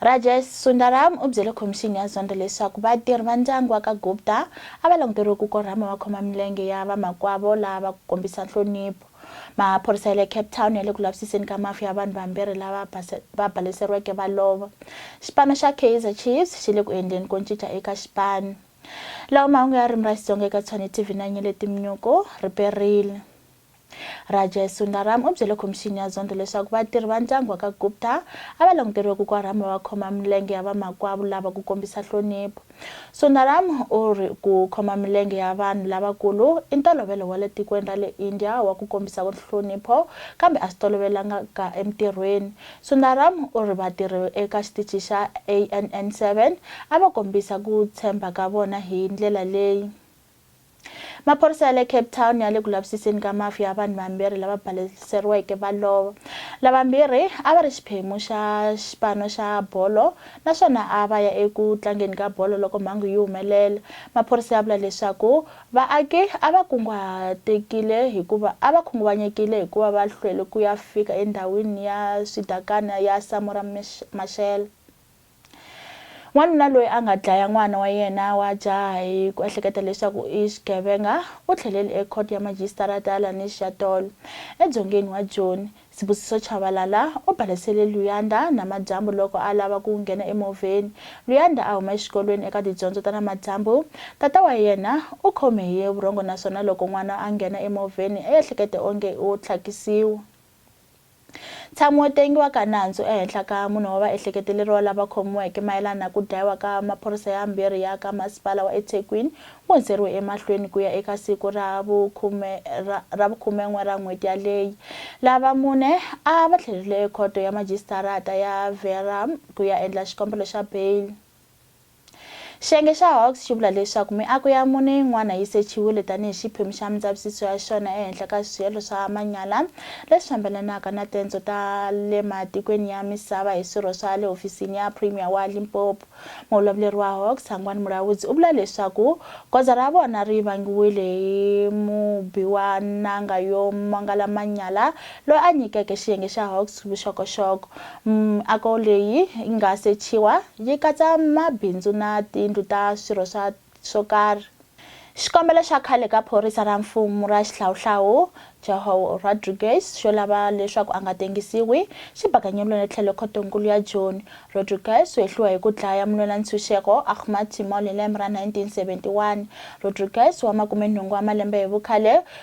Rajesh Sundaram u byele khomixini ya zondo leswaku vatirhi va ndyangu wa ka Gupta a va languteriwe ku korhama vakhoma milenge ya vamakwavo lava ku kombisa nhlonipho. Maphorisa ya le Cape Town ya le ku lavisiseni ka mafu ya vanhu vambirhi lava va baleseriweke va lova. Xipano xa Kaizer Chiefs xi le ku endleni ko ncinca eka xipano. Lawa mahungu ya ririmi ra Xitsonga eka Tshwane TV na Nyele Timnyuku, riperile. Rajesh Sundaram u byele khomixini ya Zondo leswaku vatirhi va ndyangu wa ka Gupta a va languteriwe ku korhama va khoma milenge ya vamakwavo lava ku kombisa nhlonipho. Sundaram u ri, Ku khoma milenge ya vanhu lavakulu i ntolovelo wa le tikweni ra le India wa ku kombisa nhlonipho, kambe a swi tolovelangaka entirhweni. Sundaram u ri, Vatirhi eka xitichi xa ANN seven a va kombisa ku tshemba ka vona hi ndlela leyi. Maphorisa ya le Cape Town ya le ku lavisiseni ka mafu ya vanhu vambirhi lava baleseriweke va lova. Lavambirhi a va ri xiphemu xa xipano xa bolo naswona a va ya eku tlangeni ka bolo loko mhangu yi humelela. Maphorisa ya vula leswaku vaaki a va kunguhatekile hikuva a va khunguvanyekile hikuva va hlwele ku ya fika endhawini ya swidakana ya Samora Mashele. N'wanuna loyi a nga dlaya n'wana wa yena wa jaha hi ku ehleketa leswaku i xigevenga u tlhelele eKhoto ya Majisitarata ya Lanis Shatol, edzongeni wa Joni. Sibusiso Tshabalala u balesele Luyanda namadyambu loko a lava ku nghena emovheni. Luyanda a huma exikolweni eka tidyondzo ta namadyambu. Tata wa yena u khome hi vurhongo naswona loko n'wana a nghena emovheni, u ehlekete onge u tlhakisiwa. Ntshami wo tengiwa ka nandzu ehenhla ka mune wa vaehleketeleriwa lava khomiweke mayelana na ku dlayiwa ka maphorisa yambirhi ya ka Masipala wa eThekwini wu hundzeriwe emahlweni ku ya eka siku ra vukhume ra ra vukhumen'we ra n'hweti yaleyi. Lava mune a va tlhelerile ekhoto ya majisitarata ya Verulam ku ya endla xikombelo xa beyili. Xiyenge xa Hawks xi vula leswaku miako ya mune yin'wana yi sechiwile tanihi xiphemu xa mindzavisiso ya xona ehenhla ka swielo swa manyala leswi fambelanaka na tendzo ta le matikweni ya misava hi swirho swa le hofisini ya Premier wa Limpopo. Muvulavuleri wa Hawks, Sangwani Mulaudzi, u vula leswaku goza ra vona ri vangiwile hi mubi wa nanga yo mangala manyala loyi a nyikeke xiyenge xa Hawks vuxokoxoko. Miako leyi yi nga sechiwa yi katsa mabindzu na tindlu ta swirho swa swo karhi. Xikombelo xa khale ka phorisa ra mfumu ra xihlawuhlawu João Rodrigues xo lava leswaku a nga tengisiwi xi bakanyeliwile tlhelo Khoto-nkulu ya Joni. Rodrigues u hehliwe hi ku dlaya mulwela-ntshunxeko Ahmad Timol hi lembe ra 1971. Rodrigues wa makume-nhungu wa malembe hi vukhale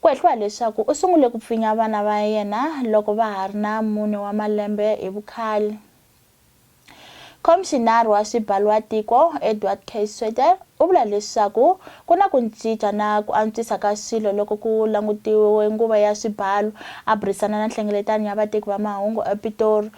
Ku hehliwa hileswaku u sungule ku pfinya vana va yena loko va ha ri na mune wa malembe hi vukhale. Khomixinari wa Swibalwatiko, Edward K. Sweeter, u vula leswaku ku na ku ncinca na ku antswisa ka swilo loko ku langutiwe nguva ya swibalu. A burisana na Nhlengeletanyo ya Vateki va Mahungu ePitori,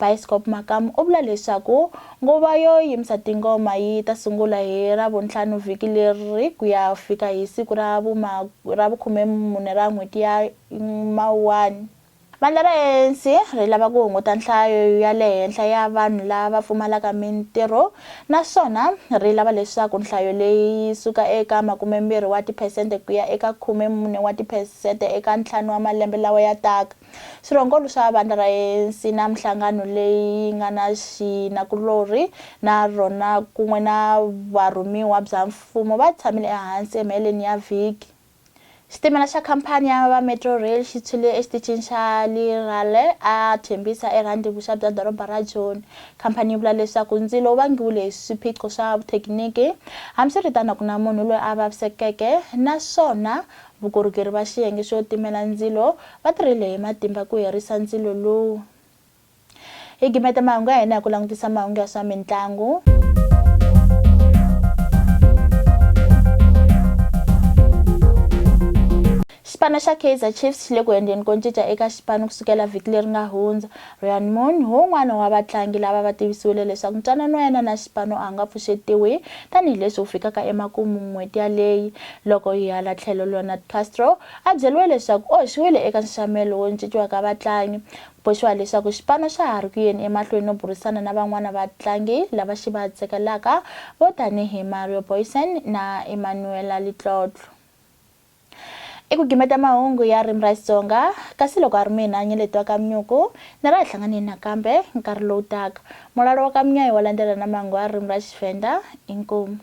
Biskop Makamu u vula leswaku nguva yo yimisa tingoma yi ta sungula hi Ravuntlhanu vhiki leri ku ya fika hi siku ra ra vukhumemune ra n'hweti ya Mawuwani. Vandla ra ANC ri lava ku hunguta nhlayo ya le henhla ya vanhu lava pfumalaka mintirho naswona ri lava leswaku nhlayo leyi yi suka eka makumembirhi wa tiphesente ku ya eka khumemune wa tiphesente eka ntlhanu wa malembe lawa ya taka. Swirhongolo swa vandla ra Ensina Minhlangano leyi yi nga na xinakulorhi na rona kun'we na varhumiwa bya Mfumo va tshamile ehansi emaheleni ya vhiki. Xitimela xa khampani ya va Metrorail xi tshwile exitichini xa Lirale a Thembisa eRhandi vuxa bya doroba ra Joni. Khampani yi vula leswaku ndzilo wu vangiwile hi swiphiqo swa vuthekiniki, hambiswiritano a ku na munhu loyi a vavisekeke naswona Vukorhokeri va xiyenge xo timela ndzilo va tirhile hi matimba ku herisa ndzilo lowu. Hi gimeta mahungu ya hina hi ku langutisa mahungu ya swa mintlangu. Xipano xa Kaizer Chiefs xi le ku endleni ko cinca eka xipano ku sukela vhiki leri nga hundza. Ryan Moon, wun'wana wa vatlangi lava va tivisiwile leswaku ntwanano wa yena na xipano a wu nga pfuxetiwi tani hi leswi wu fikaka emakumu n'hweti yaleyi. Loko hi hala tlhelo Leonard Castro a byeriwe leswaku u hoxiwile eka nxaxamelo wo cinciwa ka vatlangi, ku boxiwa leswaku xipano xa ha ri ku yeni emahlweni no burisana na van'wana vatlangi lava xi va tsakelaka vo tanihi Mario Boysen na Emmanuela Letlotlo. I ku gimeta mahungu ya ririmi ra Xitsonga, kasi loko a ri mina Nyeleti wa Kamnyuku, ni ra hlanganeni nakambe nkarhi lowu taka. Mulalo wa Kamnyayi wa landzela na mahungu ya ririmi ra Xivhenda. Inkomu.